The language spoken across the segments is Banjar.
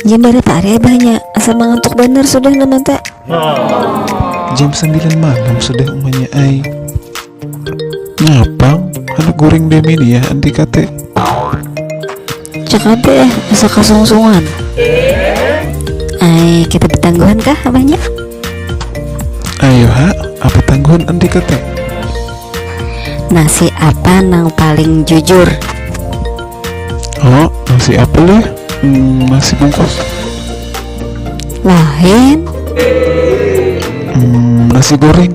Jam barat ari abahnya, asa mangantuk banar sudah nah mata. Jam sambilan malam sudah umanya ai. Napang handak guring demi nih yah anti kate. Cakap eh, bisa kasungsungan. Ay, kita betangguhan kah abahnya? Ayo ha, apa tangguhan andi kata? Nasi apa nang paling jujur? Oh, nasi apa leh? Hmm, nasi bungkus. Lain. Hmm, nasi goreng.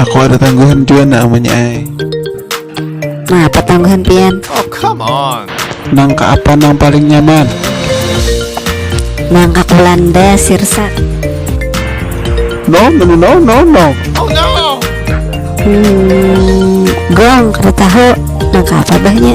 Aku ada tangguhan jua nak amannya ai. Nah, apa tangguhan pian? Oh, come on. Nang ke apa nang paling nyaman? Nang ke Belanda, Sirsak. No, no, no, no, no. Oh no. Hmm, gong, kada tahu. Nang ke apa bahnya?